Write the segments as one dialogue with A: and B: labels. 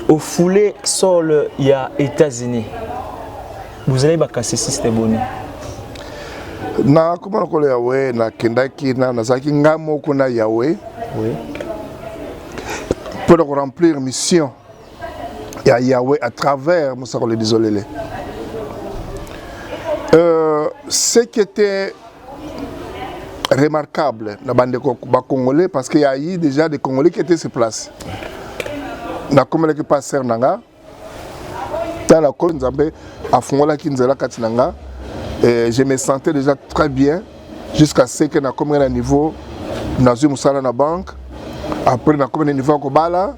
A: ofule sol ya Etats-Unis bozali bakasisiste boni
B: nakoma lokolo yawe nakendaki nazalaki ngai moko na yawe mpo na koremplir mission ya yawe à travers mosakoli lisolele euh, ce qui était remarquable na bandeko bakongolais parce que yayi déjà des congolais qui étaient sur place nakomelaki mpa ser na nga ntango nakoli nzambe afungolaki nzela kati na nga et je me sentais déjà très bien jusqu'à ce que nakomaki na niveau nazwi mosala na banque après nakomi na niveau ya kobala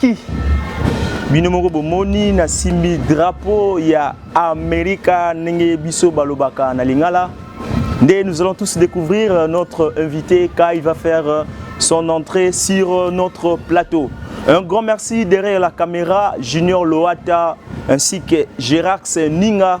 A: Ki bino moko bomoni nasimbi drapeau ya Amerika ndenge biso balobaka na lingala nde nous allons tous découvrir notre invité quand il va faire son entrée sur notre plateau. Un grand merci derrière la caméra Junior Loata ainsi que Gérard Ninga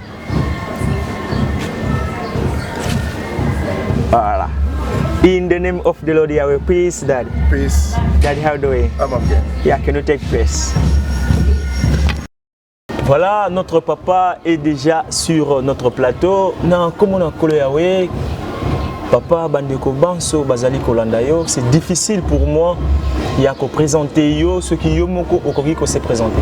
A: Voilà. In the name of the Lord Yahweh, peace, Daddy. Peace. Daddy,
B: how do we?
A: I'm okay. Yeah, can you
B: take peace?
A: Voilà, notre papa est déjà sur notre plateau. Na comme on a collé Yahweh, papa bandeko banso bazali kolanda yo, c'est difficile pour moi ya ko présenter yo ce qui yo moko okoki ko se présenter.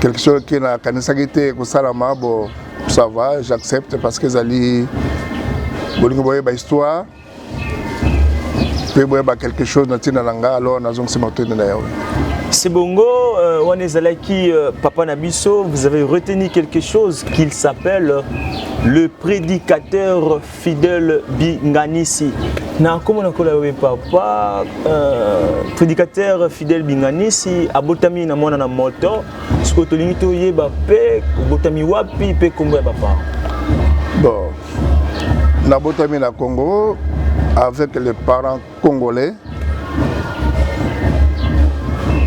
B: quelque chose qui na kanisaki te kosalama bo ça va j'accepte parce que ezali bolingi boyeba histoire mpe boyeba quelque chose na ntina na ngai alors nazongisi matondi na yawe C'est bongo,
A: euh, on est allé qui euh, Papa Nabiso, vous avez retenu quelque chose qu'il s'appelle le prédicateur Fidèle Binganisi. Na komo na kola yobe papa euh, prédicateur Fidèle Binganisi abotami na mwana na moto. Siko tolingi toyeba pe obotami wapi pe kombo ya papa. Bon.
B: Nabotami na Congo avec les parents congolais.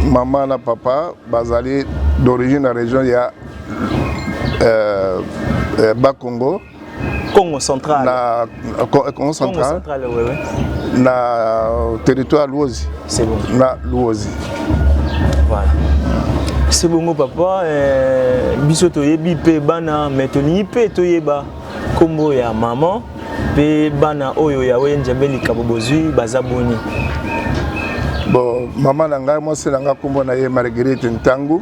B: Maman na papa bazali d'origine na région ya euh, euh, Bas-Congo. Congo
A: central. Na Congo
B: central. Congo central, oui, oui.
A: Na
B: territoire Luozi. C'est bon. Na
A: Luozi. Voilà. C'est bon, papa. Euh, biso toyebi pe bana, mais tolingi pe toyeba kombo ya maman pe bana oyo ya oye njambe likabo bozui baza boni.
B: Bon, maman na ngai mwasi na ngai kombo na ye Marguerite Ntangu.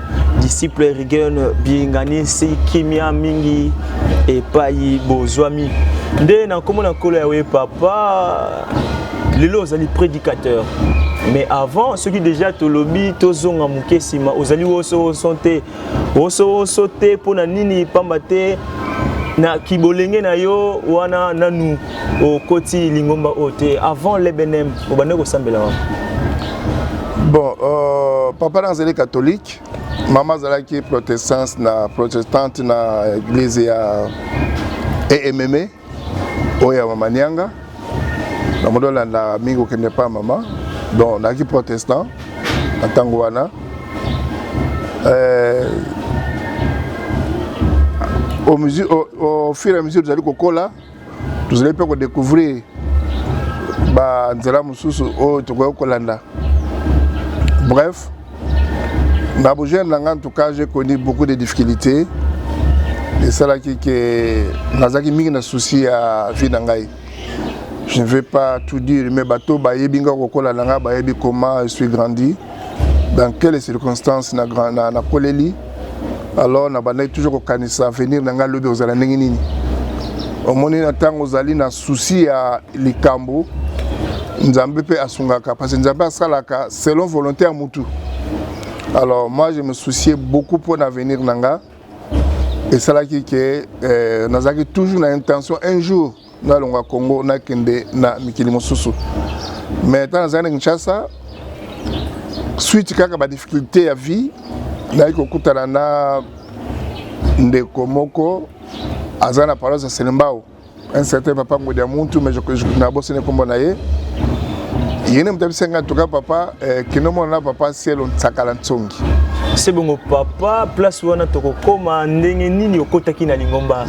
A: disciple Reagan bilinganisi kimia mingi epai bozwami nde na nkombo na nkolo yawe papa lelo ozali prédicateur mais avant soki déjà tolobi tozonga moke nsima ozali wosowoso te wosowoso te mpo na nini mpamba te na kibolenge na yo wana nanu okoti lingomba oyo te avant l'ebnm obandaki kosambela wapi
B: bon euh, papa na azali catholique mama azalaki protestante na protestante na église ya emme oyo ya mama nianga na moto olanda mingi kokende epai ya mama donc nayaki protestant na ntango wana euh, au, mesure, au, au fur et à mesure tozali kokola tozali mpe kodecouvrir banzela mosusu oyo tokoki kolanda bref na bojeune na ngai en tout cas j'ai connu beaucoup de difficultés esalaki ke nazalaki mingi na souci ya vie na ngai je ne vais pas tout dire mais bato bayebi ngai kokola na ngai bayebi comment je suis grandi dans quelle circonstance na grand na na koleli alors na bandaki toujours kokanisa avenir na ngai lobi ozala ndenge nini omoni na ntango ozali na souci ya likambo nzambe mpe asungaka parce que nzambe asalaka selon volonté ya mutu alors moi je me souciais beaucoup mpo na avenir na ngai esalaki ke euh, nazalaki toujours na intention un jour nalonga congo nakende na mikili mosusu mais ntango nazali na kinshasa suite kaka badifficulté ya vie nayaki kokutana na ndeko moko aza na paroisse ya selembao un certain papa ngodi ya muntu mais nabosani nkombo na ye ye nde moto abisaki ngai tuka papa Eh, kino mona papa sielo nsakala nsongi se bongo
A: papa place wana tokokoma ndenge nini okotaki na lingomba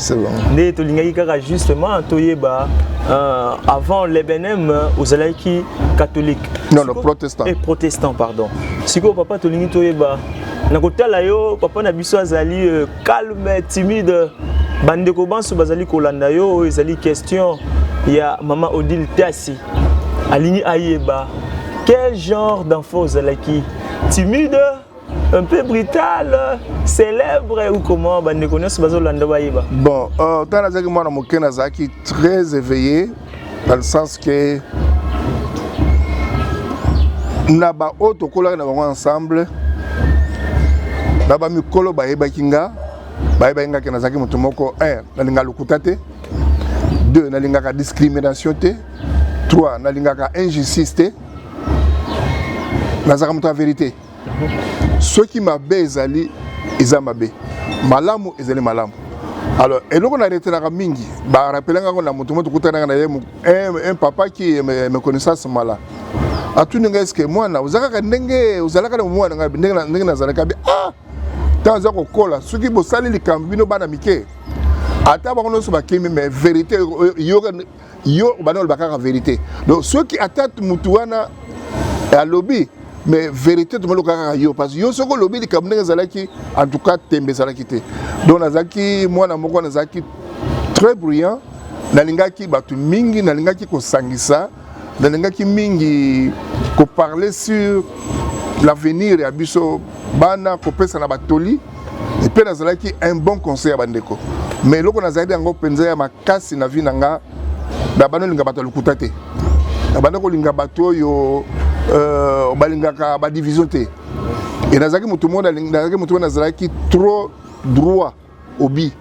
A: nde
B: tolingaki kaka
A: justement toyeba euh, avant l'ebnm ozalaki catholique non, non, protestant.
B: Eh, protestant pardon
A: sikoyo papa tolingi toyeba na kotala yo papa na biso azali euh, calme timide bandeko banso bazali kolanda yo oyo ezali question ya mama odile tasi alingi ayeba quel genre d'enfant ozalaki timide un peu brutal célèbre ou comment bandeko nyonso bazolanda bayeba
B: bon euh, ntango nazalaki mwana moke nazalaki très éveillé dans le sens que na baoyo tokolaki na bango ensemble na bamikolo bayebaki nga bayebaki nga ke nazalaki moto moko un nalinga lokuta te deux nalingaka discrimination te trois nalingaka injustice te nazalaka moto ya verité soki mabe ezali eza mabe malamu ezali malamu alors eloko na retenaka mingi barapelanga yango na moto mo tokutanaka na ye un papa qui me connaissance mala atuni ngai eske mwana oza kaka ndenge ozalaka na mwana ngai ndenge nazalaka bi ah ntango aza kokola soki bosali likambo bino bana mike ata bango nyonso bakimi mais verité yoka yo bana oloba kaka verité donc soki ata mutu wana alobi mais verité tomaloka kaka yo parce que yo soki olobi likambo ndenge ezalaki en tout cas tembe ezalaki te donc nazalaki mwana moko nazalaki très bruyant nalingaki bato mingi nalingaki kosangisa nalingaki mingi koparle sur l'avenir ya biso bana kopesa na batoli epe nazalaki un bon conseil ya bandeko mais eloko nazalaki yango mpenza ya makasi na vie na nga na banda olinga bato ya lokuta te na banda kolinga bato oyo euh, balingaka badivision te e nazalaki moto moko nazalaki moto moko nazalaki trop droit obi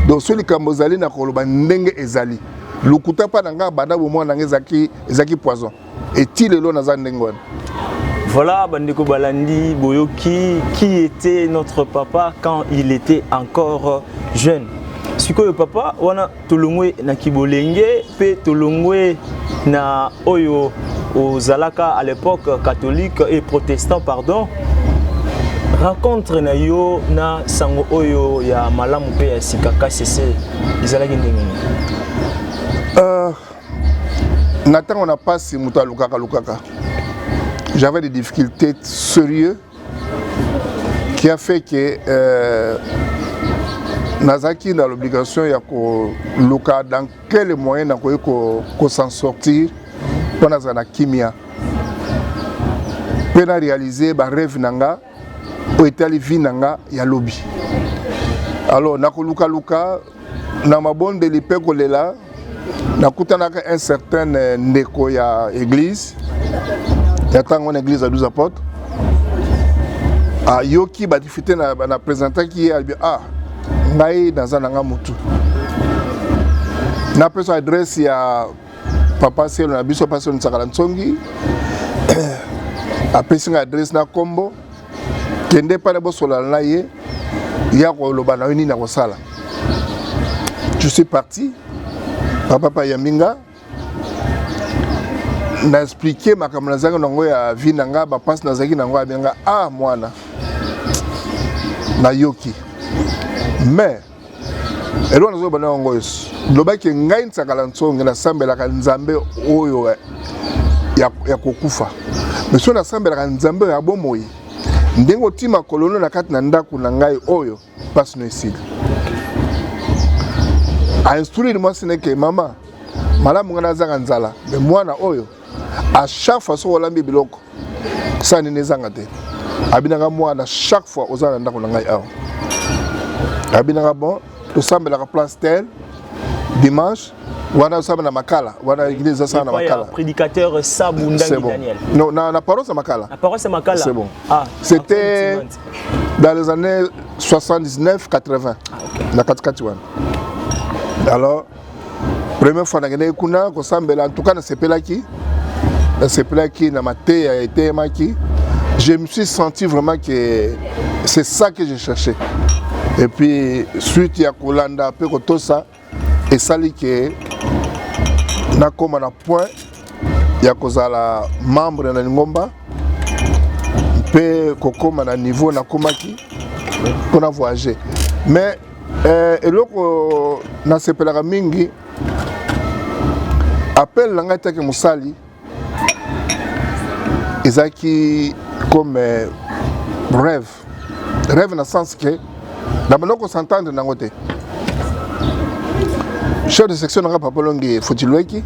B: donc so likambo ezali na koloba ndenge ezali lokuta mpa na ngai banda bomwana na ngai ezalaki poison et ti lelo naza ndenge wana Voilà,
A: Bandeko Balandi, Boyoki, qui était notre papa quand il était encore jeune sikoyo papa wana tolongwe na kibolenge mpe tolongwe na oyo ozalaka à l'époque catholique et protestant pardon rencontre na yo na sango oyo ya malamu mpe ya sika kasese ezalaki ndenge nini euh,
B: na ntango na mpasi moto alukaka lukaka j'avais des difficultés sérieux qui a fait que euh, nazalaki na l'obligation ya koluka dans quel moyen nakoki kosan ko sortir mpo nazala na kimia mpe na réalise barêve na nga oyo etali vie na nga ya lobi alors nakolukaluka na mabondeli mpe kolela nakutanaka un certain euh, ndeko ya église ya ntango wana église ya 12 apotre ayoki badifite na, na présentaki ye albi ah ngai naza na nga motu napesa adresse ya papa selo na biso pasi onisakala nsongi apesi ngai adresse na nkombo kende epai na bosolana na ye ya koloba na yo nini akosala je suis parti papa pa yambi nga na explike makambo nazalaki nango ya vie na ngai bapasi nazalaki nango abenga a ah, mwana nayoki mais eloko nazoloba na yango yesu lobaki ngai nsakala nsonge nasambelaka nzambe oyo eh, ya, ya kokufa me soki nasambelaka nzambe oyo ya bomoi ndenge otii makolono na kati na ndako na ngai oyo mpasi no esili ainstruire mwasi neke mama malamu ngai nazanga nzala me mwana oyo à chaque fois soki olambi biloko sani na ezanga te abinaka mwana chaque fois oza na ndako na ngai awa abinaka bon tosambelaka place tel dimanche wana osala na makala wana eglise ezasala na makala prédicateur sabu
A: ndangi daniel non na,
B: na paroisse
A: ya
B: makala na paroisse ya makala c'est bon
A: ah, c'était
B: dans les années 79 80 ah, okay. na katikati wana alors première fois nakendaki kuna kosambela ntuka nasepelaki nasepelaki na mateya ya eteyemaki je me suis senti vraiment que c'est ça que je cherchais et puis suite ya kolanda mpe kotosa esali ke nakóma na point ya kozala membre na lingomba mpe kokóma na niveau nakomaki mpo na voyage mais eh, eloko nasepelaka mingi appel na ngai take mosali ezalaki comme eh, rêve rêve na sens que na banda kosantendre nango te chef de section nanga papa longi fotilweki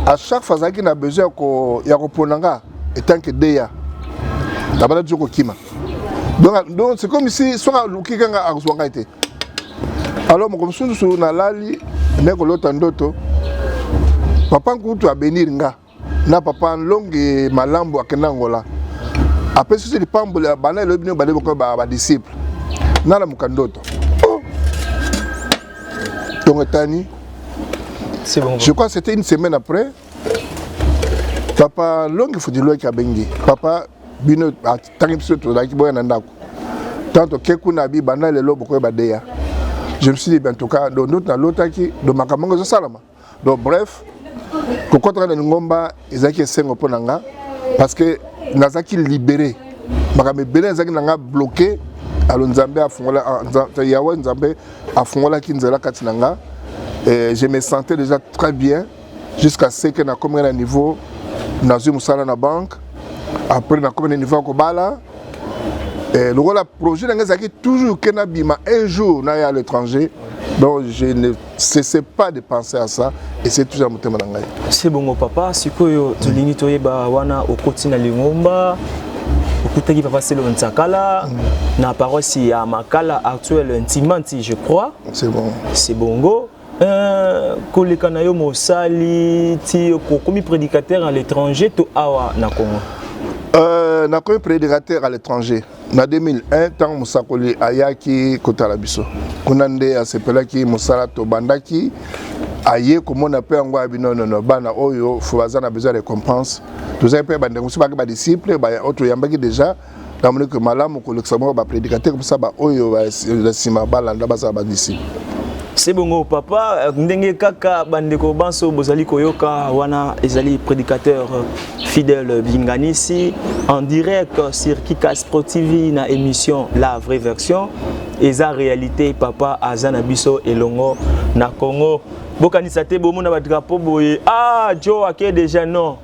B: à chaque fois azalaki na besoin ya kopona nga etant que deya abanda toujours kokima donc donc c'est comme si soki aluki kanga akozwa ngai te alors moko mosusu nalali nde kolota ndoto papa nkutu abenir nga na papa nlonge malambo akenda angola apesi biso lipamboli bana elobi bino bale boko badisciple nalamuka ndoto ntongo oh! etani je
A: crois c'était une semaine
B: après papa longi futiloki abengi papa bino atangi biso tozalaki boya na ndako ntango toke kuna bi banda lelo bokoyeba deya je me suis dit ben tout cas donc ndoto nalotaki donc makambo yango ezosalama donc bref kokɔtaka na lingomba ezalaki esengo mpo na nga parce que nazalaki libéré makambo ebele ezalaki na nga bloqué alo nzambe afungola ah, yawe nzambe afungolaki nzela kati na nga je me sentais déjà très bien jusqu'à ce que nakomi na niveau nazwi mosala na banque après nakomi na niveau ya kobala eh, lokola projet na ngai ezalaki toujours ke nabima un jour naya à l'étranger donc je ne cessais pas de penser à ça et c'est toujours na motema na ngai se bongo papa
A: sikoyo tolingi toyeba wana okoti na lingomba okutaki papa selo nsakala mm. na paroisse ya makala actuelle ntimanti je crois c'est bon c'est
B: bongo
A: Euh, koleka na yo mosali ti okomi prédicateur à l'étranger to awa na congo euh,
B: nakomi prédicateur à l'étranger na 2001 ntango mosakoli ayaki kotala biso kuna nde asepelaki mosala tobandaki aye komona mpe yango abi nonono bana oyo fo baza na besoin ya récompense tozali mpe bandeko mosusu baki badisciple oyo toyambaki déjà namoni ke malamu kolekisa moko bapredikatere mposa baoyo na nsima balanda bazala badisiple se bongo
A: papa ndenge kaka bandeko banso bozali koyoka wana ezali prédicateur fidèle binganisi en direct sur kikas pro tv na émission la vraie version eza réalité papa aza na biso elongo na congo bokanisa te bomona badrapo boye ah jo ake déjà non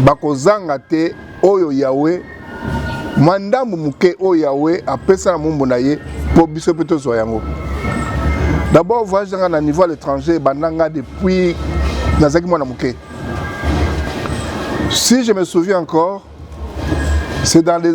B: bakozanga te oyo yawe mwa ndambo moke oyo yawe apesa na mombo na ye mpo biso mpe tozwa yango d'abord voyage nanga na niveau à l'étranger ebanda nga depuis nazalaki mwana moke si je me souviens encore c'est dans les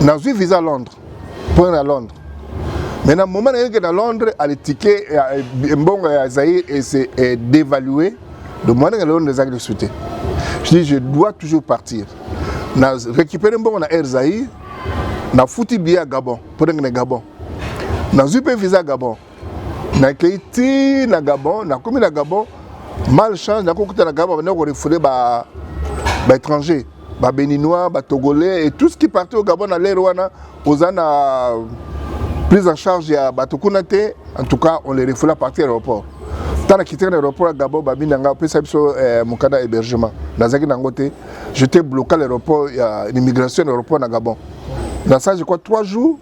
B: nazwi visa à londres mpo na londres mais na moment nayoki na londres ale ticket ya mbongo ya zaïre ese dévalué donc mwana nga londres ezalaki lisusu te je dis je dois toujours partir na récupéré mbongo na air zaïre nafuti biye ya gabon mpo ndenge na gabon nazwi mpe visa gabon nakei ti na gabon nakomi na gabon mal chance nakokuta na gabon banda korefule ba baétranger babéninois batogolais et tout ce qui parti au gabon na lere wana oza na prise en charge ya bato kuna te en tout cas on les refoula partir à l'aéroport ntango nakitaki na aéroport ya gabon babi na ngai opesa biso eh, mokanda hébergement nazalaki na yango te j'étais bloqué à l'aéroport ya immigration na aéroport na gabon na ça je crois trois jours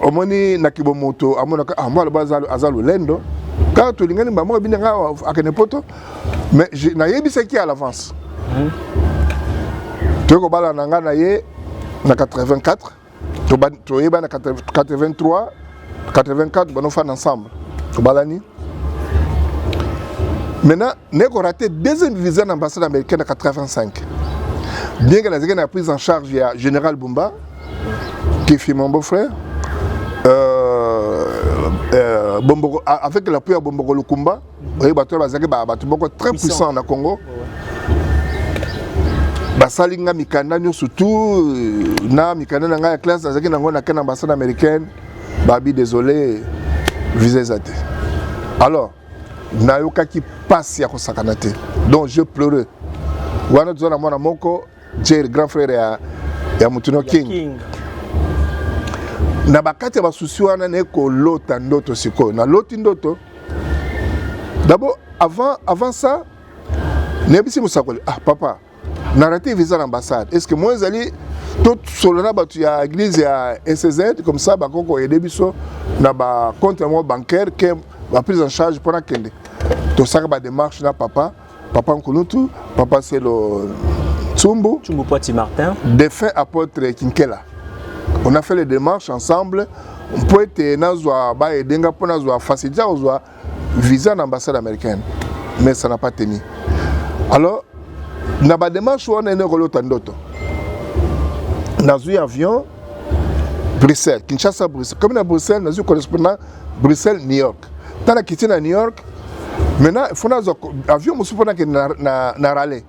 B: omoni na kibomoto amonaka ah, mwana ba aza lolendo kaka tolingani mbamoko ebini ngai awa akende poto mais nayebisaki à l'avance hmm. toyei kobala na ngai na ye na 84 toyeba na 83 84 banofanda ensemble tobalani maintenant naye korate deuxième visa na ambassade américaine na 85 bien que nazalaki na prise en charge ya général bumba Kefi mon beau-frère euh, euh, Bomboko, avec l'appui ya Bomboko Lukumba oyebi bato oyo bazalaki bato moko très puissant na Congo basali nga mikanda nyonso tout euh, na mikanda na ngai ya classe nazalaki nango na ken ambassade américaine babi désolé visa eza te alors nayokaki mpasi ya kosakana te donc je pleure wana toza na mwana moko Jerry grand frère ya ya Mutuno King, King. na bakati ya basusi wana naye kolota ndoto sikoyo naloti ndoto d'abord avant, avant ça nayebisi mosakoli ah papa na rate visa na ambassade est ce que moi ezali tosolo na bato ya église ya ecz comme ça bakoki koyede biso na bacompte yango bancaire ke baprise en charge mpo nakende tosaka badémarche na papa Papa Nkulutu, Papa Selo Tsumbu, Tsumbu Poiti Martin,
A: défunt apôtre
B: Kinkela. On a fait les démarches ensemble mpo ete nazwa baede nga mpo nazwa facilité ya kozwa visa na ambassade américaine mais ça n'a pas tenu alors na badémarche wana ene kolota ndoto nazwi avion bruxelles kinshasa bruxelles komi na bruxelles nazwi correspondant bruxelles new york tala kiti na new york maintenant il faut nazwa avion mosusu mpo nakende na, na, na rale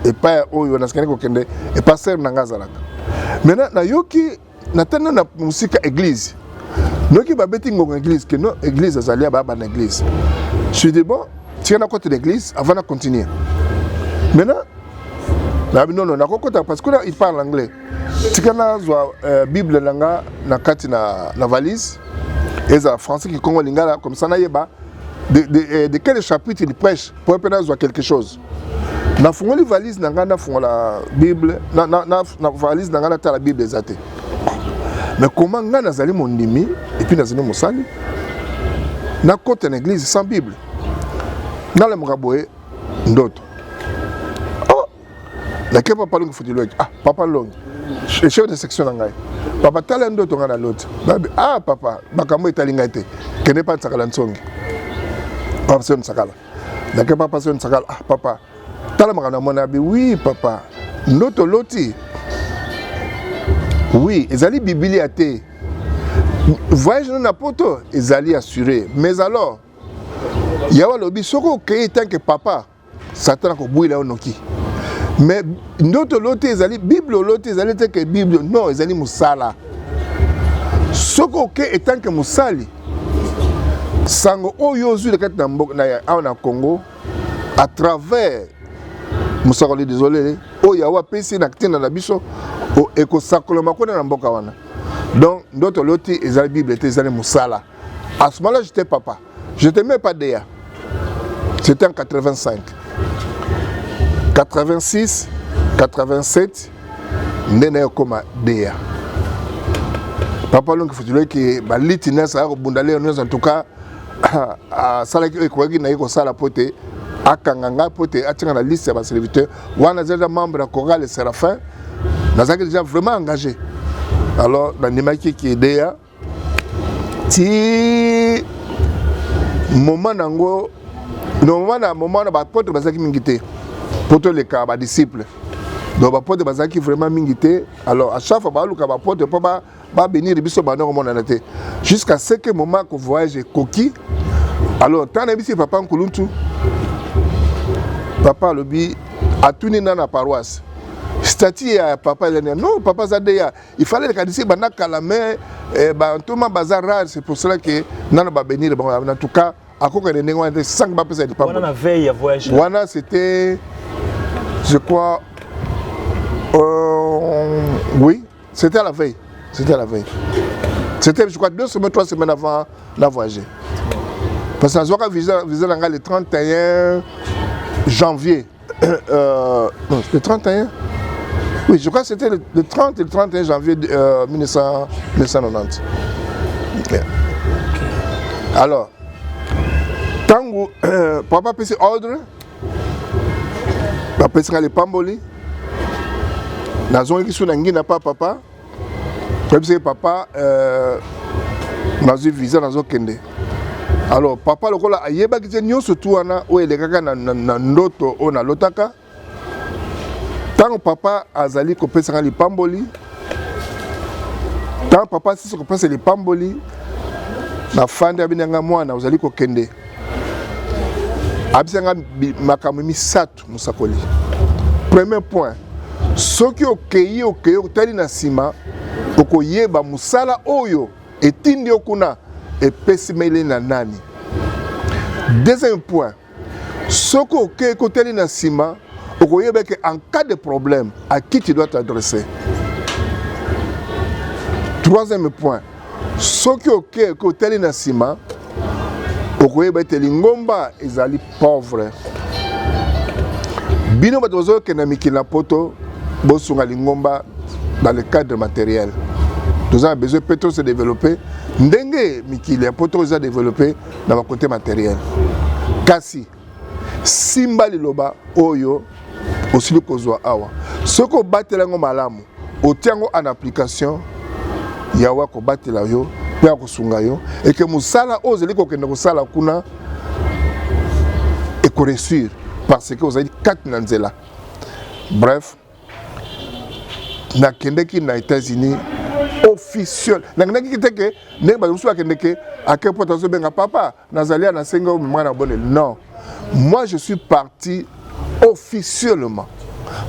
B: epai oyo nasikani kokende epai sere na ngai azalaka maintenant nayoki natanda na mosika église noki babeti ngonga église ke no église azali ababa na église suis dit bon tika nakota na église avant na continuer maintenant nabi nono nakokota parce que il parle anglais tika nazwa euh, bible na nga na kati na, na valise ezala français kikongo lingala comme ça nayeba de, de, euh, de quel chapitre il prêche po mpe nazwa quelque chose nafungoli valise na ngai nafungola bible na, na, na, na valise na ngai natala bible eza te mais comment ngai nazali mondimi epuis nazali mosali nakota na église sans bible nalemaka boye ndoto na ke papa longi futi loki ah papa longi chef de section na ngai papa tala ndoto ngai na loti babi ah papa makambo etali ngai te kende pa nsakala nsongi papa sio nsakala na ke papa sio nsakala ah papa tala makambo na mwana abi oui papa ndoto loti oui ezali bibilia te voyage no na poto ezali assure mais alors yawe alobi soki okei tanke papa Satan akobwila yo noki. Mais ndoto oloti ezali Bible oloti ezali te ke Bible non ezali mosala. Soki oke etant que mosali sango oyo ozwi na kati na mboka na awa na Congo à travers mosakoli désolé oyo awa apesi na ntina na biso ekosakolama kuna na mboka wana donc ndoto oloti ezali Bible te ezali mosala à ce moment-là j'étais papa Je te mets pas DA. C'était en 85. 86, 87, nde naye okoma DA. Papa Longi Futuleki, baliti na sala kobunda leo nyonso en tout cas asalaki oyo ekokaki na ye kosala mpo te akanga ngai mpo te atika na liste ya baserviteur wana aza deja membre ya corale serafin nazalaki deja vraiment engagé alors nandimaki kideya ti moment na yango normalement na moment wana bapotre bazalaki mingi te mpo toleka badisciple donc bapotre bazalaki vraiment mingi te alors à chaque fois baluka bapotre mpo babénir biso banda komonana te jusqu'à ce que moment ko voyage ekoki alors ntango nayebisi papa nkuluntu papa alobi atuni na na paroisse stati ya papa elania non papa aza deya il fallait rekanisi banda kala mais eh, bantoma baza rare c'est pour cela que nano babenire bango en tout cas akokende ndenge wana te sanke bapesa lipambowana c'était je crois euh, oui c'était à la veille c'était à la veille c'était je crois deux semaines trois semaines avant na voyager parce que nazwaka visa na ngai le 31 janvier Euh, euh, non, le 31 Oui, je crois que c'était le, le, 30 et le 31 janvier euh, 1900, 1990. Yeah. Alors, tango euh, papa apesi ordre bapesaka lipamboli nazongaki so na ngi na pa papa toyebi soki papa euh, nazwi visa nazokende alors papa lokola ayebaki te nyonso tu wana oyo elekaka na, na, na ndoto oyo nalotaka ntango papa azali kopesaka lipamboli ntango papa asisi kopesa lipamboli nafandi abinanga mwana ozali kokende abisanga makambo misato mosakoli premier point soki okei okei otali na nsima okoyeba mosala oyo etindi yo kuna epesimeli na nani deuxième point soki okei kotali na nsima okoyeba ke en cas de problème à qui tu dois t'adresser troisième point soki okei kotali na nsima okoyeba ete lingomba ezali pauvre bino bato bazokende mikili na poto bosunga lingomba dans le cadre matériel toza na besoin mpe tose développer ndenge mikili ya poto eza développer na bakote matériel kasi simba liloba oyo osili kozwa awa soki obatela yango malamu otia yango en application yawe akobatela yo mpe akosunga yo eke mosala oyo ozali kokende kosala kuna ekoreussir parce que ozali kati na nzela bref nakendeki na états-unis officiel nakendaki te ke ndenge bato mosusu bakendeke ake mpo tazobenga papa Nazali ya nasenga yo mema na bonel. Non. Moi je suis parti officiellement.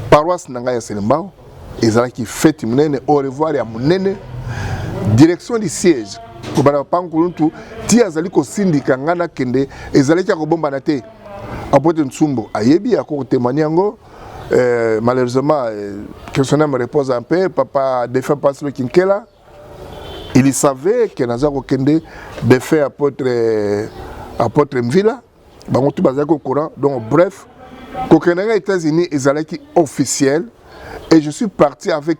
B: Paroisse na ngai ya Selembao ezalaki fete munene au revoir ya munene direction du siège kobanda papa nkuluntu ti azali kosindika ngai nakende ezalaki ya kobombana te apote nsumbu ayebi akoki kotemani yango euh, malheureusement euh, que son âme repose en paix papa défunt paslo kinkela il savait que naza kokende de fait apôtre euh, apôtre mvila bango tu bazalaki au courant donc bref kokende nga états-unis ezalaki officiel et je suis parti avec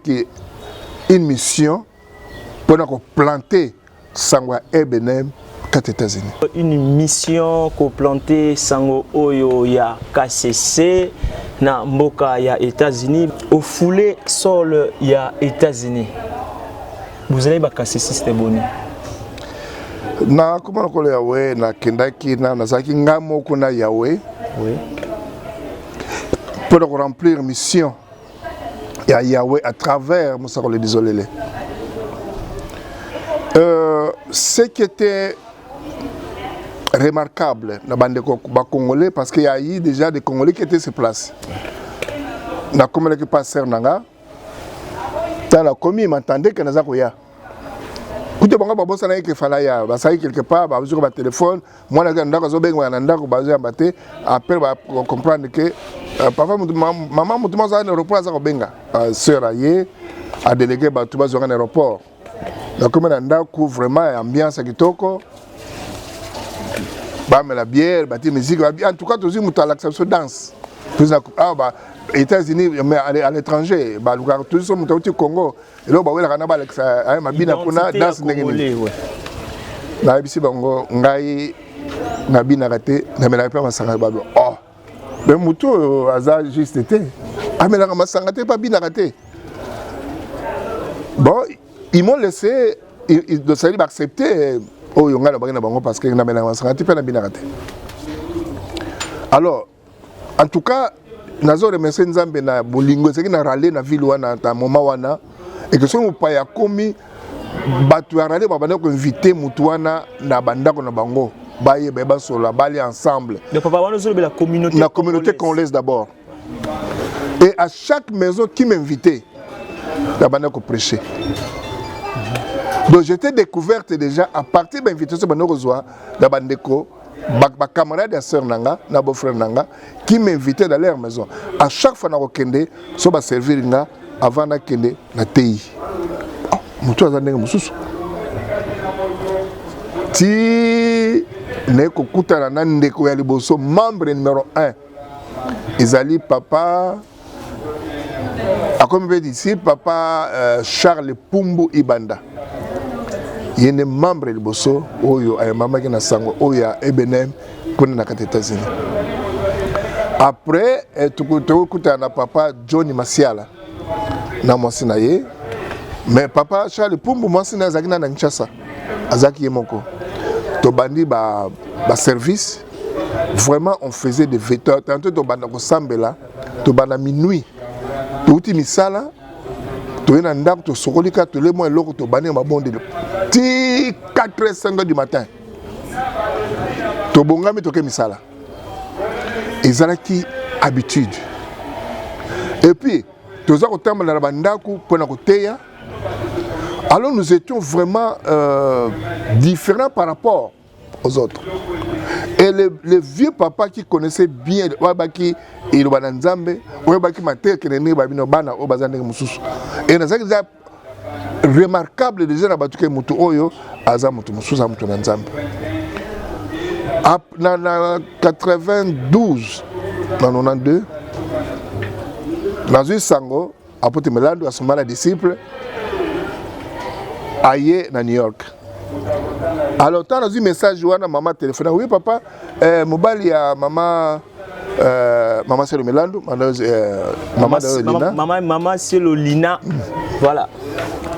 B: une mission mpona koplanter sango ya ebenem kati États-Unis. Une mission
A: ko planter sango oyo ya KCC na mboka ya États-Unis, au foulé sol ya États-Unis. Vous allez ba KCCiste boni?
B: Na koma lokolo ya we na kendaki na nazalaki ngai moko na Yahweh. Oui. Pour remplir mission ya Yahweh à travers Mosakoli Dizolele. Euh, ce qui était remarquable na bandeko ba congolais parce qu'il y a eu déjà des congolais qui étaient sur place. Na komelaki pasteur nanga tala komi m'entendait que naza koya. kutu bango babosanaki ke fala ya basali quelque part bazwi ko batelefone mwana azali na ndako azobengaka na ndako bazoyamba te après bacomprendre ke euh, papa mama motu moko azali na aéroport aza kobenga euh, sœur aye adelege bato bazwaka na aéroport nakomi na ndako vraiment ya ambiance ya kitoko bamela biere bati miziki en tout cas tozwi moto alakisa biso danse awa ah, ba états-unis mais à l'étranger balukaka toziso moto auti congo eloko bawelaka na balakisa aye mabina kuna danse ndenge nini nayebisi bango ngai nabinaka te namelaka mpe masanga ya babi oh me motu oyo aza juste te amelaka masanga te mpe abinaka te bon ils m'ont laissé osali baaccepte euh, oyo ngai nabaki na bango parce que namelaka masanga te mpe nabinaka te alors En tout cas, nazo remercier Nzambe na bolingo ezalaki na rale na ville wana ta moment wana et que soki mopaya akomi bato ya rale babanda koinvite motu wana na bandako na bango bayeba basola bali ensemble na
A: communauté congolaise
B: d'abord et à chaque maison qui m'invitait nabanda koprêche donc j'étais découverte déjà à partir bainvitation banda kozwa na bandeko ba, ba camarade ya sœur na nga na beau frère na nga qui m'invitait dans leur maison à chaque fois nakokende so baservir nga avant nakende na tei oh, motu aza ndenge mosusu ti naye kokutana na ndeko ya liboso membre numero 1 ezali papa akomi mpe disi papa uh, charles pumbu ibanda ye nde membre liboso oyo ayambamaki na sango oyo ya ebnm kuna na kati etats-unis après eh, tokokutana na papa john masiala na mwasi na ye mais papa charles pumbu mwasi na ye azalaki na na kinshasa azalaki ye moko tobandi baservice ba vraiment on faisait des veto tantôt tobanda kosambela tobanda minuit touti misala toye na ndako tosokoli kaka tole mwa eloko tobandi na mabondeli ti 4 5 du matin tobongami toke misala ezalaki habitude epuis toza kotambola na bandako mpo na koteya alors nous étions vraiment euh, différents par rapport aux autres. Et le, le vieux papa qui connaissait bien oyebaki eloba na nzambe oyebaki mateya kende ndenge babino bana oyo baza ndenge mosusu e nazalaki eza remarquable déjà na bato ke moto oyo aza moto mosusu aza moto na nzambe na, na 92 na 92 nazwi sango Apotre Melandu asomba na disciple aye na New York. Alors ntango nazwi message wana mama telefone oui papa eh, mobali ya mama eh, mama Selo Melandu eh, mama, mama, mama, mama,
A: mama Selo Lina voilà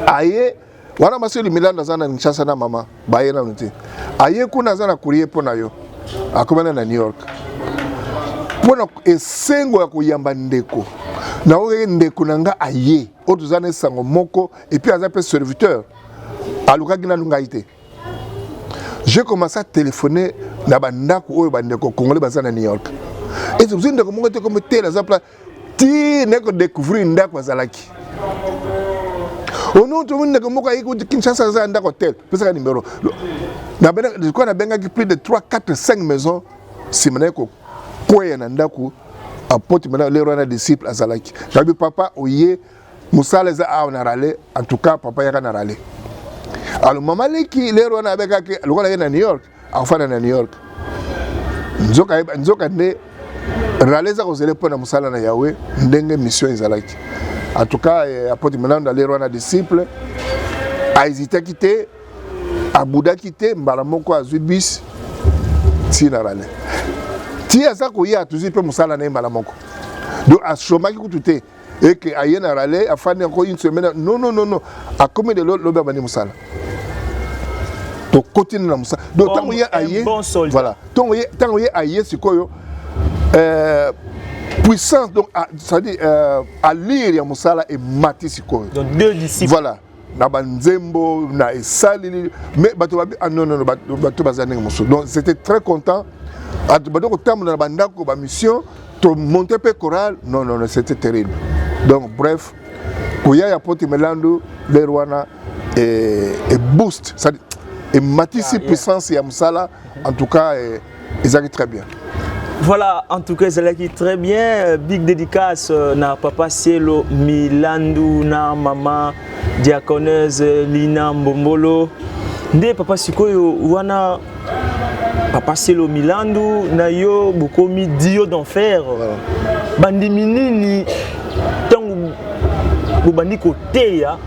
A: aye
B: wana maseli milanda aza na Kinshasa na mama baye nanu te aye kuna aza na courrier mpo na yo akomana na New York mpo na esengo ya koyamba ndeko naoyei ndeko na nga aye oyo toza na esango moko epuis aza mpe serviteur alukaki nanu ngai te je commence à téléphoner na bandako oyo bandeko congolais baza na new york ezozwi ndeko moko te komi tele aza place ti nde ko découvrir ndako azalaki ono tomoni ndeko moko ayi kuti kinshasa aza ya ndako hotel pesaka nimero likoya nabengaki plus de 3 4 5 maison nsima naye kokweya na ndako apoti mana lero wana disciple azalaki nabi papa oye mosala eza awa na rale en tout cas papa yaka na rale alors mama leki lero wana abekaki lokola ye na new york akofanda na new york nzoka nde rale eza kozele mpo na mosala na yawe ndenge mission ezalaki en tout cas eh, apôtre Milando alerwa na disciple ahezitaki te abudaki te mbala moko azwi bus ntina rale ti aza koya tozwi mpe mosala na ye mbala moko donc ashomaki kutu te et que aye na rale afandi encore une semaine non non non non akomi lelo lobi abandi mosala tokoti na mosala donc ntango ye aye voilà ntango ye ntango ye aye sikoyo euh, puissance donc ah, c'est-à-dire euh, allure ya mosala emati sikoyo voilà
A: na
B: banzembo na esaleli mais bato babi ah non non bato baza ndenge mosusu donc c'était très content bato bado kotambola na bandako bamission tomonte mpe chorale non non non c'était terrible donc bref koya ya poti melandu lere wana eboost e, e, e boost ematisi puissance ya mosala en tout cas eh, ezalaki très bien Voilà, en
A: tout cas, Zalaki très bien. Euh, big dédicace euh, na papa Cielo, Milandu, na maman diaconeuse euh, Lina Mbombolo. Nde papa Sikoyo, wana papa Cielo Milandu, na yo bokomi dio d'enfer. Voilà. Bandimi nini tango bobandi ko teya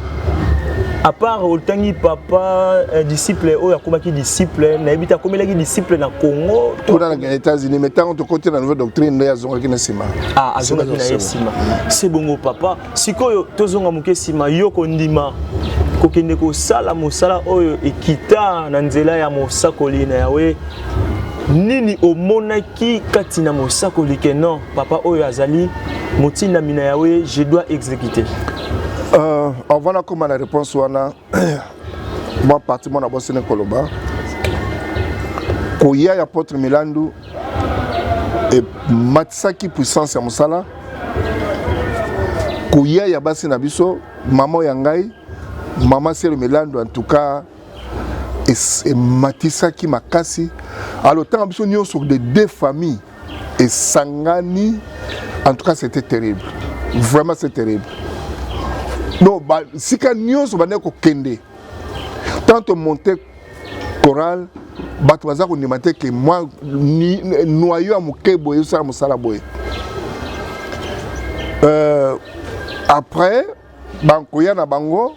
A: à part otangi papa euh, disciple oyo akomaki disciple nayebi te akomelaki disciple na congo kuna na états-unis
B: mais ntango tokoti na nouvelle doctrine nde azongaki na nsima ah, azongaki na ye
A: nsima se bongo papa sikoyo tozonga moke nsima yo kondima kokende kosala mosala oyo ekita na nzela ya mosakoli na yawe nini omonaki kati na mosakoli ke non Papa oyo azali motindami na Yahweh, je dois exécuter. Euh,
B: avant la comme la réponse wana moi parti mon abossi ne koloba. Koya ya potre Milandu et matisaki puissance ya musala. Koya ya basi na biso, maman ya ngai, maman Selo Milandu en tout cas et matisaki makasi. Alors tant biso nyoso de deux familles esangani en tout cas c'était terrible vraiment c'est terrible donc sika nyonso bandaki kokende tant omonte chorale bato baza kondima te ke mwa noyo ya moke boye ezosala mosala boye euh, après bankoya na bango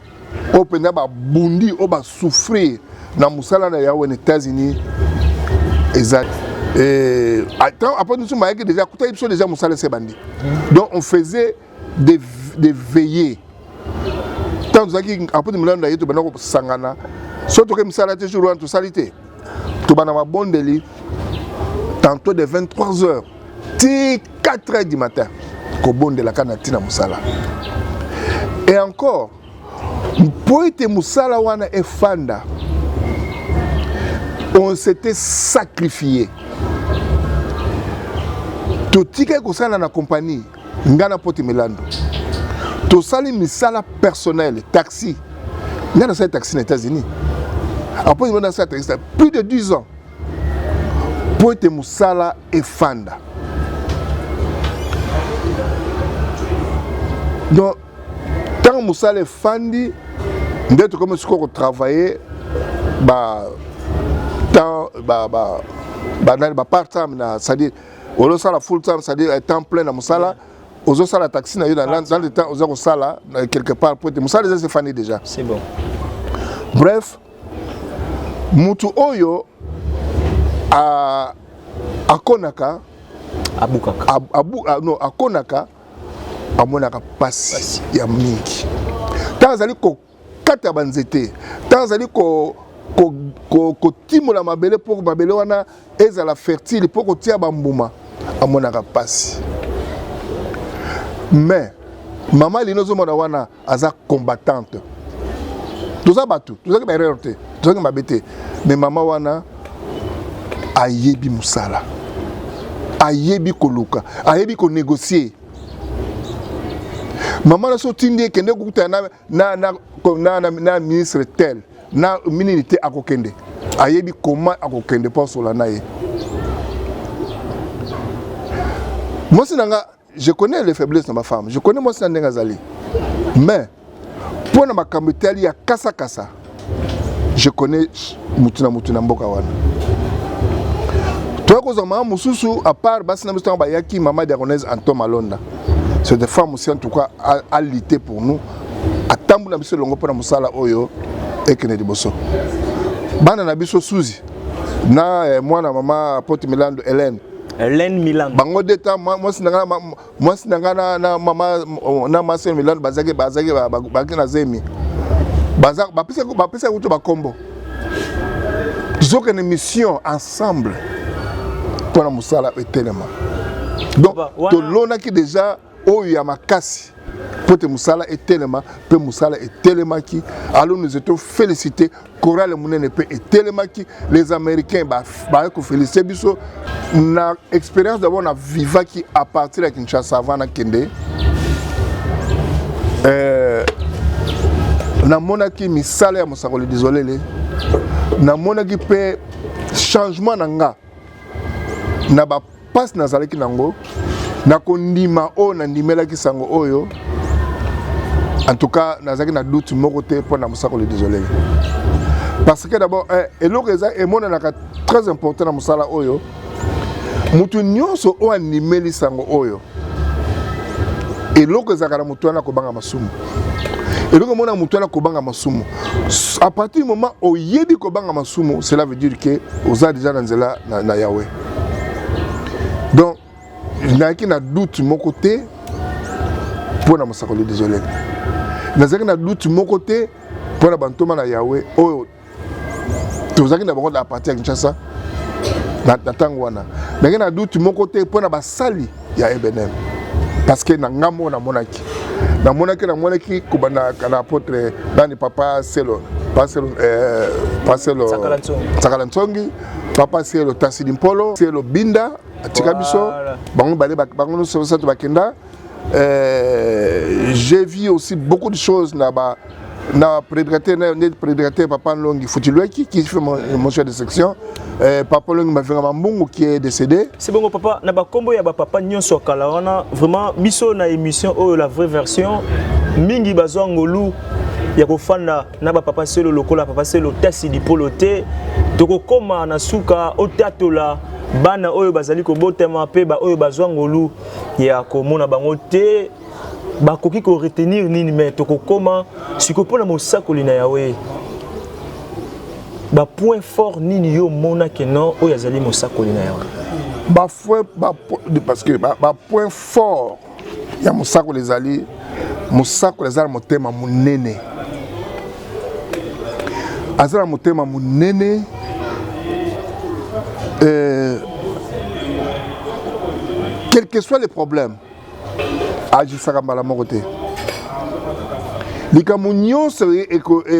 B: oyo mpenza babundi oyo basouffrir na mosala na yawe na états-unis eza eh, apres biso mayaki déjà akutaki biso déjà mosala ese bandi hmm. donc on faisait des, des veillées ntango tozalaki apres milando na ye tobanda kosangana soki toke misala te jour wana tosali te tobanda mabondeli tantôt de 23 heures ti 4 heures du matin kobondelaka na ntina mosala e encore mpo ete mosala wana efanda on s'était sacrifié totikaki kosala na kompani ngai na poti milando tosali misala personnel taxi ngai nasali taxi na états-unis apoi nasala taxi plus de 10 ans mpo ete mosala efanda donc ntango mosala efandi nde tokomi sikoyo kotravaille ba temps ba ba banani ba part time na c'est-à-dire olosala full time c'est-à-dire eh, temps plein na mosala ozosala taxi na yo dans le temps oza kosala quelque part mpo ete mosala eza sefani déjà c'est bon
A: bref
B: mutu oyo a akonaka abukaka ab, abu, a, no, akonaka amonaka mpasi ya mingi ntango azali kokata banzete ntango azali ko kotimola ko, ko mabele mpo mabele wana ezala fertile mpo kotia bambuma amonaka mpasi mais mama lino ozomona wana aza combattante toza bato tozalaki baerreur te tozalaki mabe te mais mama wana ayebi mosala ayebi koluka ayebi konegocier mama na so otindi ekende kokutana na na, na, na, na, na ministre tel na minini te akokende ayebi koma akokende mpo asola na ye mwasi na nga je connais les faiblesses na bafemme je connais mwasi na ndenge azali mais mpo na makambo etali ya kasakasa je connais mutu na mutu na mboka wana toya kozwa mama mosusu apart basi na biso ntango bayaki mama diagonaise anton malonda cette femme aussi en tout cas alite pour nous atambola biso elongo mpo na mosala oyo ekende liboso bana na biso suzi na eh, mwana mama pote milando helene helene
A: milando bango deta mwasi
B: na ngai mwasi na ngai na mama na mwasi ya milande bazalaki bazalaki bazalaki na zemi bapesaki kutu bakombo tozokende mission ensemble mpo na mosala etelema donc tolonaki deja oyo ya makasi mpo te mosala etelema mpe mosala etelemaki alors nous étions félicités korale monene mpe etelemaki les américains baye kofelisite biso na expérience dabord na vivaki à partir ya kinshasa avant nakende euh, namonaki misala ya mosakoli disolele namonaki mpe changement na nga na bapasi nazalaki nango na kondima oyo nandimelaki sango oyo en tout cas nazalaki na doute moko te mpo na mosakoli désolé parce que d'abord eh, eloko eza emonanaka très important na mosala oyo moto nyonso oyo andimeli sango oyo eloko ezalaka na moto wana kobanga masumu eloko omona moto wana kobanga masumu à partir du moment oyebi kobanga masumu cela veut dire que oza déjà na nzela na, na yawe donc nayaki na doute moko te mpo na mosakoli désolé nazalaki na doute moko te mpo na bantoma na yawe oyo tozalaki na bango na parti ya kinshasa na ntango wana ndenge na duti moko te mpo na basali ya ebnm parce que na ngambo oyo namonaki namonaki namonaki kobanda na apotre nani papa selo paselo eh, paselo sakala ntsongi papa selo tasidi mpolo selo binda atika biso bango bale bango nyonso basato bakenda Euh, j'ai vu aussi beaucoup de choses na ba na prédicateur na nde prédicateur papa Longi Futilweki qui fait mon, mon chef de section euh, papa Longi Mavinga Mambungu qui est décédé c'est bon papa na ba
A: combo ya ba papa nyonso kala wana vraiment biso na émission oyo la vraie version mingi bazwa ngolu ya kofanda na ba papa selo lokola papa selo tasi dipolo te tokokoma na suka otatola bana oyo bazali kobotama mpe baoyo bazwa ngolu ya komona bango te bakoki koretenir nini me tokokoma sikoyo mpo na mosakoli na yawe bapoint fort nini yo omonake non oyo azali mosakoli na yawe
B: bapoint fort ya mosakoli ezali mosakoli aza na motema monene aza na motema monene euh, quel que soit le problème ajisaka mbala moko te likambo nyonso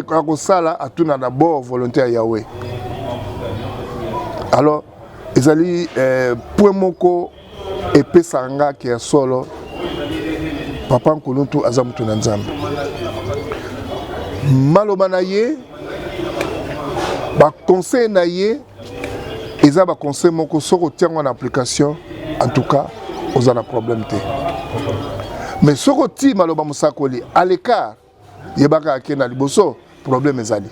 B: akosala atuna na bord volonté ya yawe alors ezali eh, point moko epesaka nga ke ya solo papa nkuluntu aza moto na nzambe maloba na ye baconseil na ye eza baconseil moko soki otia yango na application en tout cas oza na problème te mais soki otii maloba mosakoli à l'écart yebaka ake na liboso problème ezali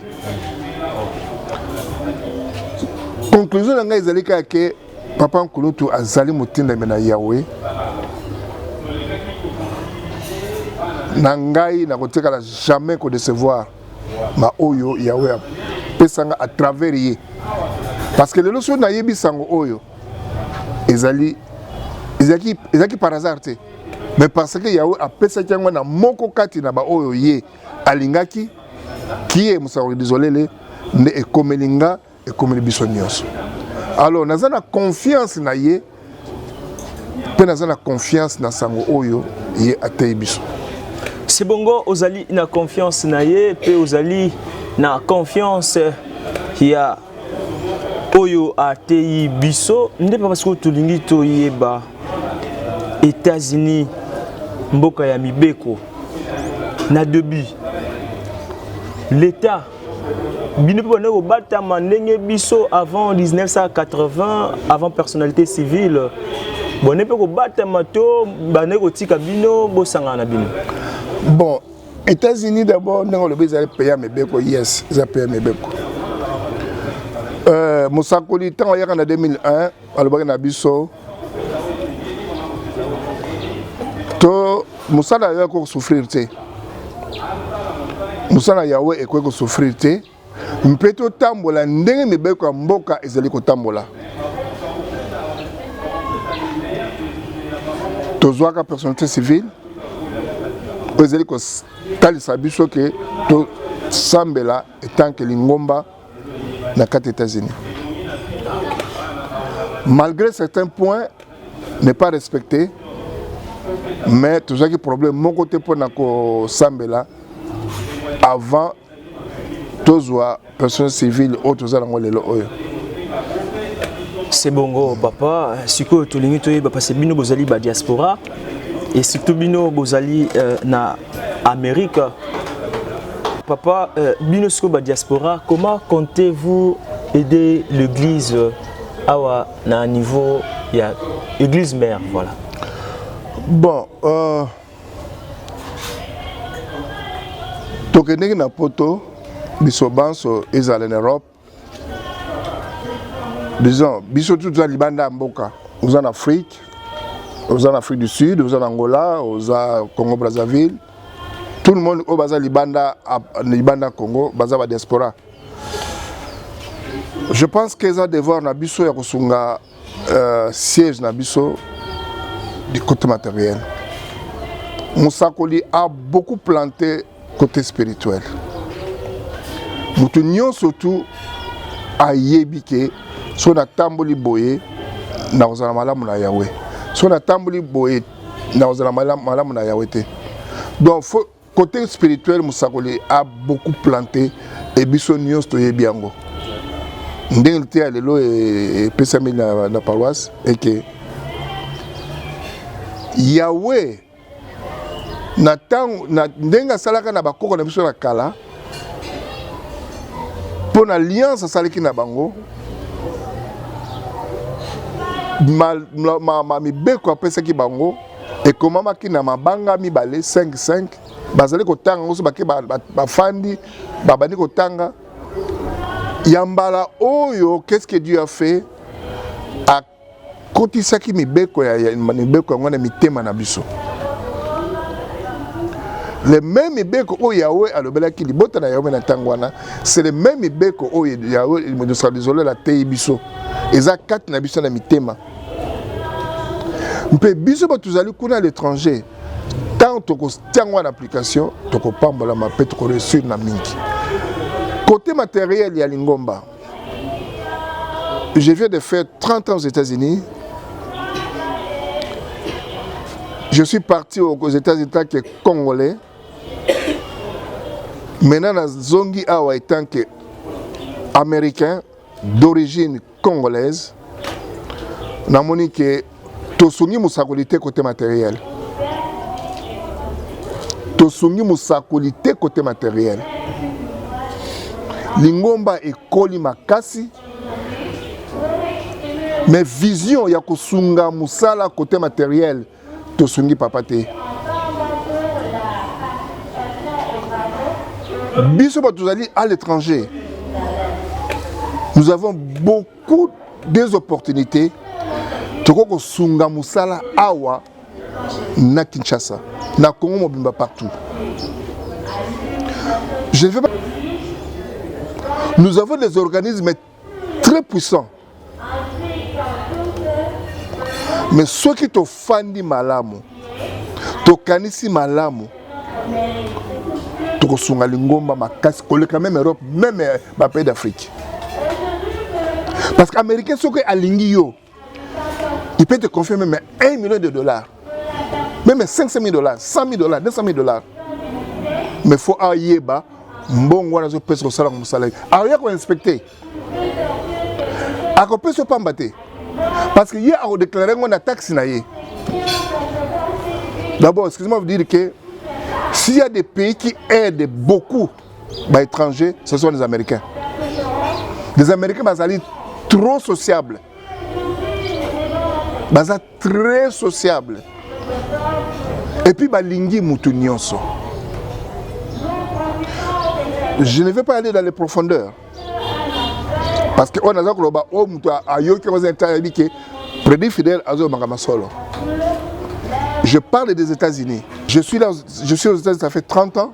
B: conclusion na ngai ezali kaka ke papa nkulutu azali motindami na yawe na ngai nakotikala jamais kodecevoir baoyo yawe apesanga à travers ye parce que lelo soki nayebi sango oyo ezali ezalaki par hasard te mais parce que yawe apesaki yango na moko kati na baoyo ye alingaki kie mosakoli dizolele nde ekomeli nga ekomeli biso nyonso alors naza na confiance na ye mpe naza na confiance na sango oyo ye ateyi biso si bongo
A: ozali na confiance na ye mpe ozali na confiance ya oyo ateyi biso nde papa sikoyo tolingi toyeba Etats-Unis mboka ya mibeko na debi l'etat bino mpe bandaki kobatama ndenge biso avant 1980 avant personnalité civile bone mpe kobatama to bandaki kotika bino bosangana na bino bon
B: États-Unis d'abord ndenge olobi ezali pays ya mibeko yes eza pays ya mibeko euh, mosakoli ntango ayaka na 2001 alobaki na biso to mosala ya yawe ekoki kosouffrir te mosala ya yawe ekoki kosouffrir te mpe totambola ndenge mibeko ya mboka ezali kotambola. Tozwaka personnalité civile oyo ezali kotalisa biso ke tosambela etanke lingomba na kati États-Unis. Malgré certains points n'est pas respecté, mais tozwaki problème moko te mpo na kosambela avant tozwa personne civile oyo toza nango lelo oyo c'est
A: bongo papa sikoyo tolingi toyeba parce bino bozali ba diaspora et surtout bino bozali euh, na amérique papa euh, bino sikoyo ba diaspora comment comptez vous aider l'église euh, awa na niveau ya église mère voilà
B: bon euh... tokendeki na poto biso banso ezala na europe disons biso tu toza libanda ya mboka oza na afrique oza na afrique du sud oza na angola oza congo brazzaville tout le monde oyo baza libanda libanda congo baza ba diaspora je pense que eza devoir na biso ya kosunga Euh, siège na biso du côté matériel mosakoli a beaucoup planté côté spirituel moto nyonso tu ayebi ke soki natamboli boye nakozala malamu na yawe soki natamboli boye nakozala malamu na yawe te donc faut Cote spirituel mosakoli a beaucoup plante et biso nyonso toyebi yango ndenge liteya lelo epesami e, na, na paroisse eke yawe na ntango na ndenge asalaka na bakoko na biso na kala mpo na alliance asalaki na bango ma, ma, ma, ma mibeko apesaki bango ekomamaki na mabanga mibale 55 bazali kotanga nyonso bake bafandi babandi kotanga ya mbala oyo qu'est-ce que Dieu a fait akotisaki mibeko ya mibeko yango na mitema na biso le même mibeko oyo yawe alobelaki libota na yawe na ntango wana c'est le même mibeko oyo yawe mosala lizolo ateyi biso eza kati na biso na mitema mpe biso bato tozali kuna à l'étranger ntango tokotia yango na application tokopambolama mpe tokoreussir na mingi côté matériel ya lingomba je viens de faire 30 ans aux états-unis je suis parti aux états-unis tant que congolais maintenant nazongi awa etant que américain d'origine congolaise namoni ke tosungi mosakoli te kote materiel tosungi mosakoli te kote materiel lingomba ekoli makasi mais vision ya kosunga mosala kote materiel tosungi papa te biso bato tozali à l'étranger nous avons beaucoup des opportunités tokoki kosunga mosala awa na kinshasa na congo mobimba partout je ne veux pas nous avons des organismes très puissant mais soki tofandi malamu tokanisi malamu tokosunga lingomba makasi koleka meme europe meme bapays d'afrique parce que américain soki alingi yo il peut te confier même 1 million de dollars même 500 000 dollars 100 000 dollars 200 000 dollars mais faut ayeba mbongo wana azopesa kosala ko mosala akoya koinspecte akopesa yo pamba te parce que ye akodeklare yango na taxe na ye d'abord excuse-moi vous dire que s'il y a des pays qui aident beaucoup ba étrangers ce sont les américains les américains bazali trop sociable baza très sociable et puis balingi motu nyonso je ne vais pas aller dans les profondeurs parce que oyo naza koloba oyo motu ayoki yango eza ntango ayebi ke prédit fidèle azolobaka masolo je parle des états-unis je suis là je suis aux états-unis ça fait 30 ans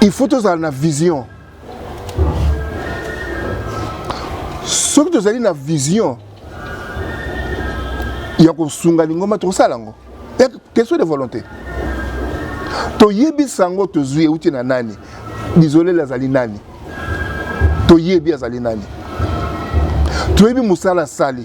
B: il faut tozala na vision soki tozali na vision ya kosunga lingomba tokosala yango question de volonté toyebisa yango tozwi euti na nani bizolele azali nani toyebi azali nani toyebi mosala asali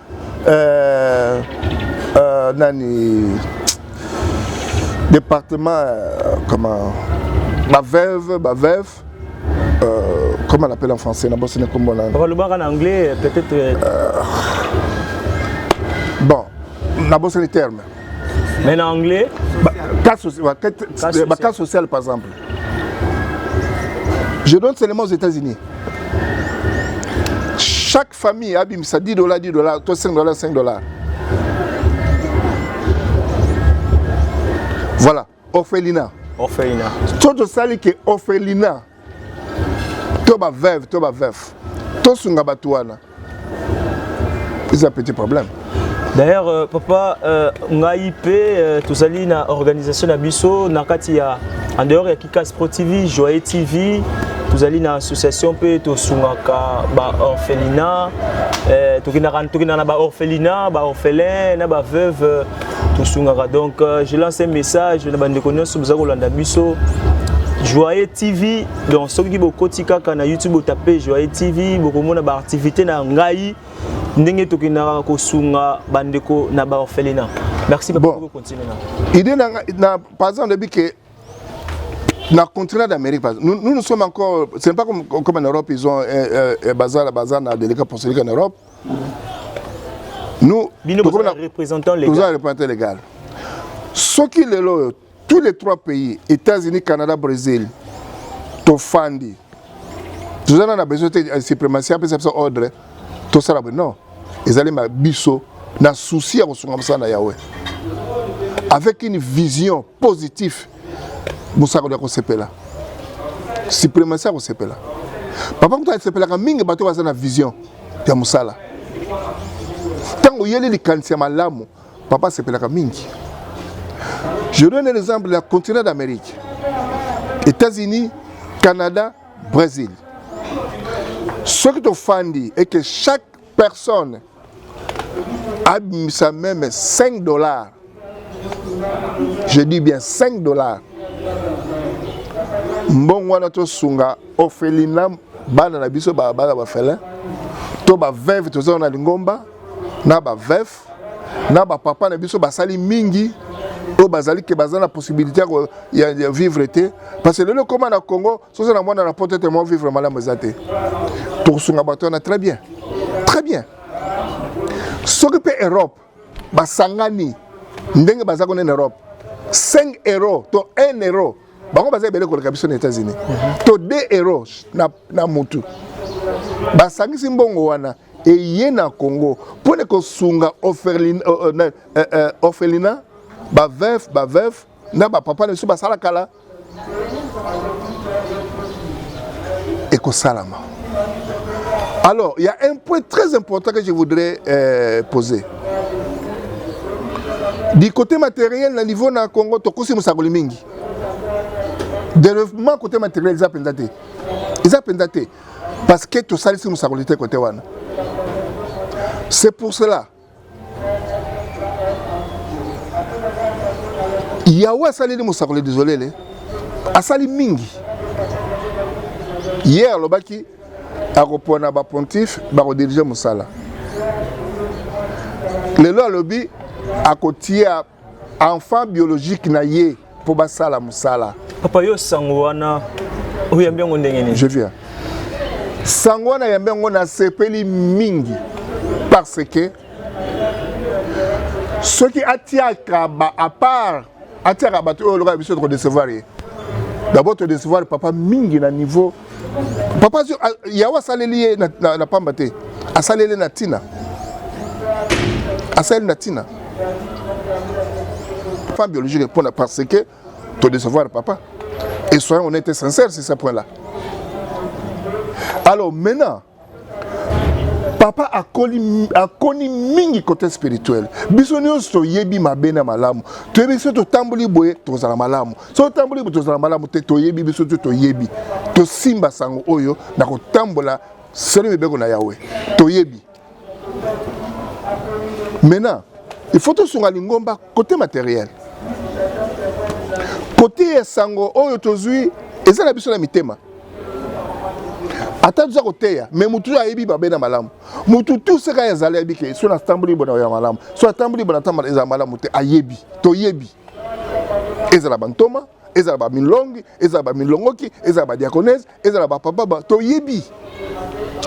B: euh, euh, nani département euh, comment ba veuve ba veuve euh, comment on appelle en français na bosse na kombo na balobaka na anglais
A: peut-être euh,
B: bon na bosse les termes mais na
A: anglais ba, cas social, ba, cas, social.
B: Ba, cas social par exemple je donne seulement aux États-Unis famille abimisa 10 dollars 10 dollars to 5 dollars 5 dollars voilà orphelina orphelina to tosali ke orphelina to baveuve to baveuve tosunga bato wana eza petit problème D'ailleurs euh,
A: papa euh, ngai pe euh, tozali na organisation na biso na kati ya en dehors ya Kikas Pro TV, Joyeux TV, tozali na association pe tosungaka ba orphelinat euh, tokendaka tokendaka na ba orphelinat, ba orphelins na ba veuves euh, tosungaka donc euh, je lance un message na bandeko nyonso boza kolanda biso Joyeux TV donc soki bokoti kaka na YouTube otape Joyeux TV bokomona ba activité na ngai ndenge tokendaka kosunga bandeko na baorphelina merci bon. continuer na idée na, na
B: par exemple lobi ke na continent d'amérique nous, nous nous sommes encore ce n'est pas comme, comme en europe ils ont euh, euh, bazar bazar na délicat pour celui en europe nous
A: toza représentant légal
B: soki lelo oyo tous les trois pays états-unis canada brésil tofandi toza na na besoin te eh, suprématie apesa biso ordre tosala boye non ezali ma biso na souci ya kosunga mosala na yawe avec une vision positive mosakoli ya kosepela suprématie ya kosepela papa moto asepelaka mingi bato baza na vision ya mosala ntango oyeli likanisi ya malamu Papa sepelaka mingi. Je donne l'exemple la continent d'Amérique. États-Unis, Canada, Brésil. Ce qui t'offendit est que chaque personne a mis sa même 5 dollars. Je dis bien 5 dollars. mbongo wana tosunga orphelina bana na biso bana bafele to baveve toza na lingomba na baveve na ba papa na biso basali mingi oyo bazali ke baza na possibilité ya, ya vivre te parce que lelo ekoma na congo soza na mwana na poto ete mwa vivre malamu eza te tokosunga bato wana très bien très bien soki mpe europe basangani ndenge baza kuna na europe 5 euro to 1 euro bango baza ebele koleka biso na états-unis to 2 euro na, na mutu basangisi mbongo wana eye na congo mpo na kosunga orphelina euh, euh, euh, orphelina bavef bavef na bapapa na biso basala kala ekosalama alors il y a un point très important que je voudrais euh, poser du côté matériel na niveau na congo tokosi mosakoli mingi développement côté matériel eza mpenza te eza mpenza te parce que tosalisi mosakoli te kote wana c'est pour cela yawe asaleli mosakoli desolele asali mingi ye alobaki akopona bapontife bakodirige mosala lelo alobi akotia enfant biologique na ye mpo basala mosala papa yo sango
A: wana oyambi yango ndenge nini je viens
B: sango wana yambi yango nasepeli mingi parce que soki atiaka ba à part atiaka bato oyo lokola biso tokodecevoir ye d'abord todecevoir papa mingi na niveau papa yawe asaleli ye na pamba te asaleli na ntina asaleli na ntina pas biologique mpona parce que to décevoir papa et soyons honnête et sincère sur ce point là alors maintenant papa akoli akoni mingi côté spirituel biso nyonso toyebi mabe na malamu toyebi soki totamboli boye tozala malamu soki totamboli boye tozala malamu te toyebi biso te toyebi tosimba sango oyo na kotambola solo mibeko na yawe toyebi maintenant il faut tosunga lingomba Cote materiel, cote ya sango oyo tozwi eza na biso na mitema ata toza koteya me motu oyo ayebi mabe na malamu motu tu seka ya zala yebi ke so natamboli bona ya malamu so atamboli bona atambala ezala malamu te ayebi toyebi ezala bantoma ezala bamilongi ezala bamilongoki ezala badiakonese ezala bapapa ba, toyebi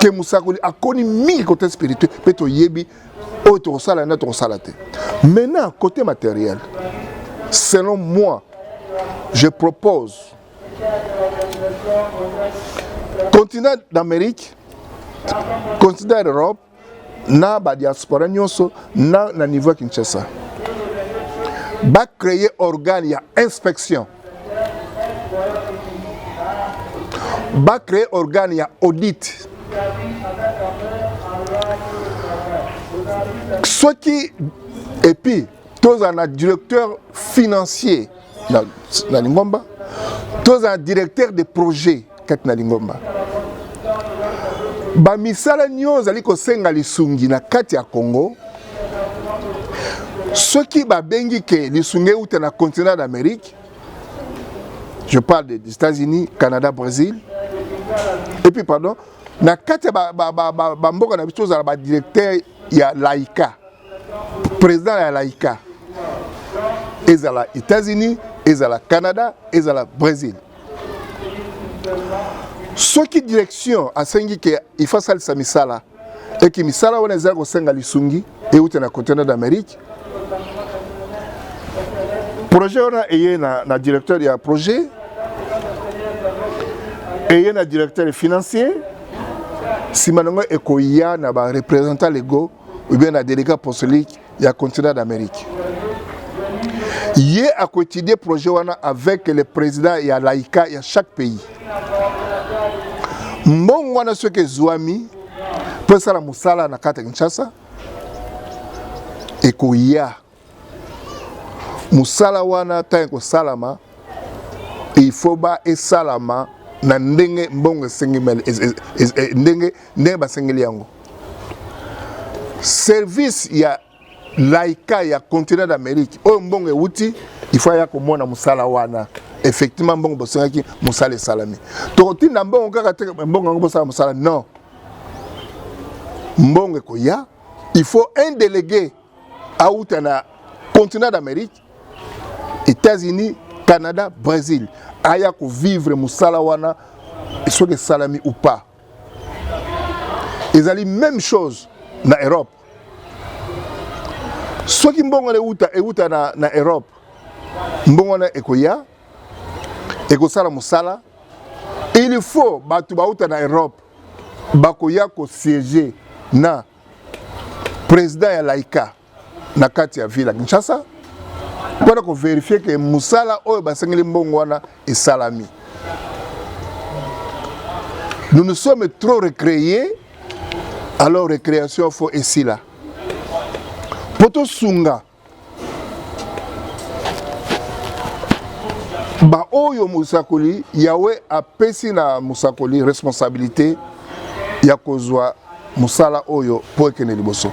B: ke mosakoli akoni mingi kote spirituel mpe toyebi oyo tokosala nde tokosala te maintenant côté matériel selon moi je propose continent d'amérique continent d'europe na ba diaspora nyonso na, na niveau ya Kinshasa ba créer organe ya inspection ba créer organe ya audit soki epuis tozala na directeur financier na, na lingomba tozala directeur de projet kati na lingomba. Bamisala nyonso ezali kosenga lisungi na kati ya Congo. Soki babengi ke lisungi euta na continent d'Amérique, je parle des États-Unis, Canada, Brésil, et puis pardon, na kati ya bamboka ba, ba, ba, ba, ba na biso tozala badirecteur ya laïka président ya laïka ezala états-unis ezala canada ezala brésil soki direction asengi ke ifa asalisa misala eki misala wana ezali kosenga lisungi euta na continent d'amérique projet wana eye na, na directeur ya projet eye na directeur financier nsima na yango ekoya na barepresentant lego ou bien na délégué apostolique ya continent d'Amérique. Ye akoétudier projet wana avec le président ya laïka ya chaque pays. Mbongo wana soki ezwami mpo esala mosala na kati ya Kinshasa ekoya mosala wana ntango ekosalama il faut ba esalama na ndenge mbongo esengeli ndenge ndenge basengeli yango service ya laika ya continent d'amérique oyo mbongo euti il faut aya komona mosala wana effectivement mbongo bosengaki mosala esalami tokotinda mbongo kaka te mbongo yango bosala mosala non mbongo ekoya il faut un délégué awuta na continent d'amérique états-unis canada brésil aya kovivre mosala wana soki esalami ou pas ezali même chose na europe soki mbongo wana ewuta ewuta na, na europe mbongo wana ekoya ekosala mosala il faut bato bauta na europe bakoya kosiege na president ya laika na kati ya ville ya kinshasa mpo na koverifie ke mosala oyo basengeli mbongo wana esalami nous nous sommes trop recréés alors recréation fo esila mpo tosunga baoyo mosakoli yawe apesi na mosakoli responsabilite ya kozwa mosala oyo mpo ekende liboso